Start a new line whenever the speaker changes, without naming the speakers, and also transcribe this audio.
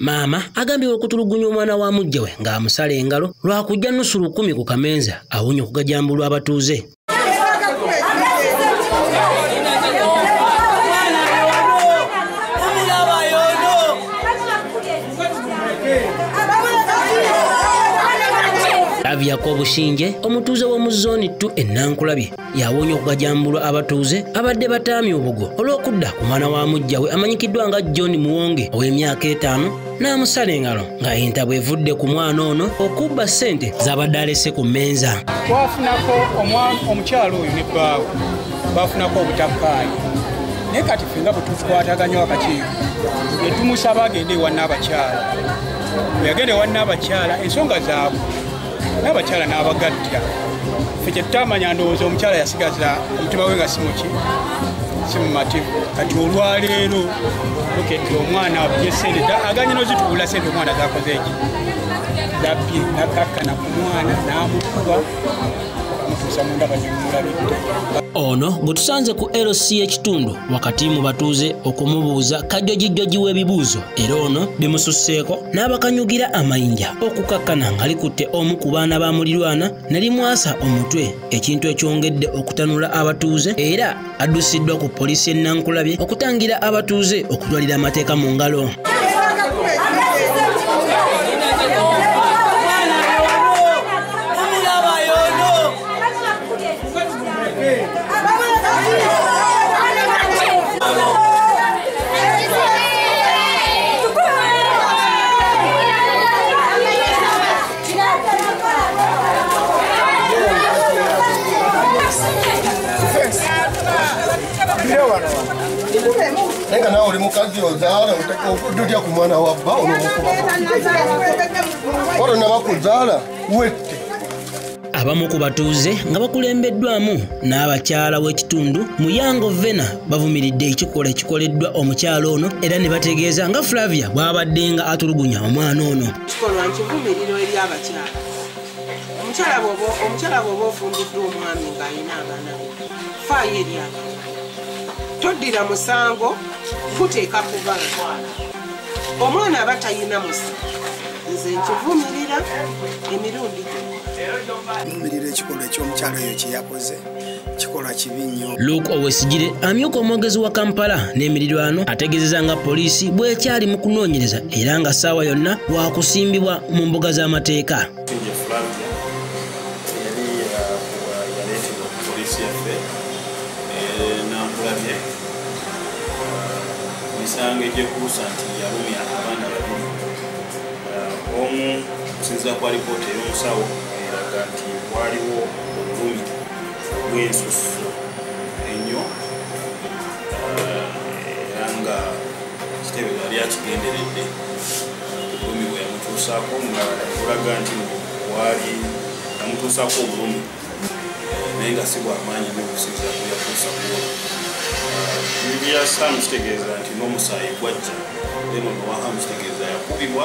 maama agambibwa okutulugunya omwana wa mujja we ng'amusala engalo lwakujja nusu lukumi ku kamenza awunya okugajambulwa abatuuze Avyako Bushinje omutuuze w'omu zooni ttu ennankulabye yawoonya okugajambulwa abatuuze abadde bataamya obugo olw'okudda ku mwana wa mujja we amanyikiddwa nga John Muwonge ow'emyaka etaano n'amusala engalo nga entabwe evudde ku mwana ono okubba ssente z'abadde alese ku mmenza. Twafunako
omukyalo oyo ne bbaawe bafunako obutakkaanya naye kati fenga bwetukwataganya wakati netumusaba agende ewa naabakyala weyagenda ewa naabakyala ensonga zaabwe naabakyala n'abagatta fe kyetutamanya ndowooza omukyala yasigaza omutima we nga simuki simumativu kati olwaleero okete omwana abye sente aganye nozituula sente omwana zakoze eki zabbye nakakkana ku mwana n'amukuba ono
gwe tusanze ku lc ekitundu wakati mu batuuze okumubuuza kajjojijjoji w'ebibuuzo era ono bimususseeko n'abakanyugira amayinja okukakkana nga likutte omu ku baana ba mulirwana ne limwasa omutwe ekintu ekyongedde okutanula abatuuze era addusiddwa ku poliisi y'e Nankulabye okutangira abatuuze okutwalira amateeka mu ngalo.
Nega na uri mukazi ozala utaka ukududya ku mwana wa bba onomukuba. Waro na bakuzala wette. Abamu
ku batuuze nga bakulembeddwamu n'abakyala w'ekitundu Muyango Vena bavumiridde ekikolwa ekikoleddwa omukyala ono era ne bategeeza nga Flavia bw'abaddenga atulugunya omwana ono. kikolwa nkivumiriro
eri abakyala omukyala bwoba omukyala bwoba ofumbiddwa omwami ng'alina abaana be faayo eri abaana toddira musango kuteeka ku baana omwana aba talina musa nze nkivumirira emirundi gyo
vumirira ekikolwa eky'omukyalo oyo kyeyakoze kikola kibi nnyo luke owesigire
amyuka omwogezi wa kampala n'emirirwano ategeezeza nga poliisi bwekyali mu kunoonyereza era nga ssaawa yonna wakusimbibwa mu mbuga z'amateeka emisango
egyekuusa nti yalumya abaana babiri omu okusinzira kwa lipoota ey'omusawo eraga nti waliwo obulumi bwensusu enyo eh, era nga kitebe yali akigenderedde obulumi bwe yamutuusaako nga olaga nti waali yamutuusaako obulumi eh, naye nga si bwamaanyi nyo okusinzira ku yatuusa kuwo bibya eh, saamu kitegeeza nti n'omusaayi gwajja eno nowahamu kitegeeza yakubibwa